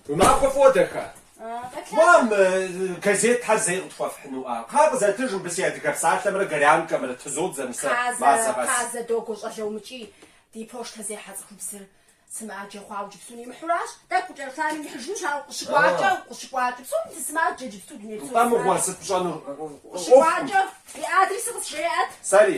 Уи махуэ фӏыуэ, дахэ. Мам, газетхэр зэи къытхуэфхьынуӏэ? Кхъа къызэтыж мыбы си адыгэ псалъэмрэ горянкэмрэ тызодзэм сэ мазэ къэс. Хазэ, догуэ щӏалэ умыкӏий, ди пощтзехьэ цӏыхубзыр сымаджэ хъуауэ иджыпсту нимыхьуращ. Тӏэкӏу кӏэрыхуами нихьыжынущ, ауэ къыщыкӏуакӏэ, укъыщыкӏуакӏэ, псоми дысымаджэ иджыпсту дуней псо сымаджэ. Тхьэ мыгъуэ, сыт пщӏэнур? Укъыщыкӏуакӏэ, уи адресыр къысжеӏэт. Сэри?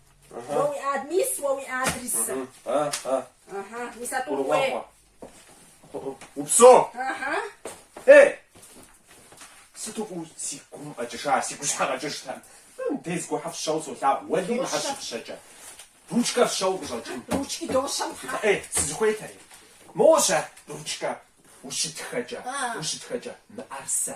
Уэ уи ад мис уэ уи адресыр. Мис а тӏур хуей. Упсэу. Ей! Сыту фӏыуэ си гум къэкӏыжа, си гущхьэ къэкӏыжтэм. Дискхэ фщэу солъагъу, уэли ахэр щыфщэкӏэ ручкэ фщэу къыщӏэкӏын. Ручки дощэм тхьэ. Ей, сызыхуейтэри. Моуэ щэ ручкэр ущытхэкӏэ, ущытхэкӏэ, мыӏэрысэ.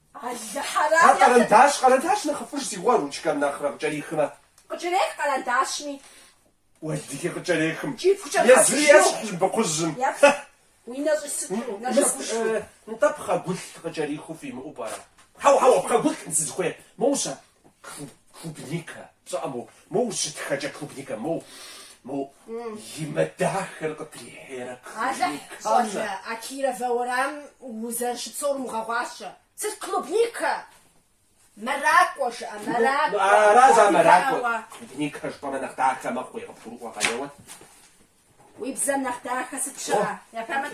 Алыхьэрам А яхэ- къэрэндащ, къэрэндащ нэхъыфӏыж си гъуэ, ручкэм нэхърэ къыкӏэрихмэ. Къыкӏэрех къэрэндащми. Уэлдыхи къыкӏэрехым. Кӏипхукӏэ Езыри хьэзыжу. ещхь лыбыкъужьым. Епхъ. Уи нэ щӏи сыту, нэ Мыс, щэгушхыу. э, нтӏэ пхъэгулъ къыкӏэрихыу фимыӏэу пӏэрэ? Хьэуэ, хьэуэ, пхъэгулъ сызыхуейр. Моущэ. Клубника, пщӏэӏэ, моу, моу ущытхэкӏэ клубника, моу, моу, и мэ дахэр къыдрихьейрэ Алыхь, клубникам щӏалэ, нэ. а Кировэ уэрамым узэрыщыпсэур умыгъэгъуащэ. Сыт клубника? Мэракӏуэ жыӏэ, Ну, мэракӏуэ. ну, ара за мэракӏуэ? Дауэ? Клубника жыпӏэмэ нэхъ дахэ мэхъуи, къыбгурыӏуэкъэ уэ. Уи бзэм нэхъ дахэ сыт щыӏэ? Япамыт.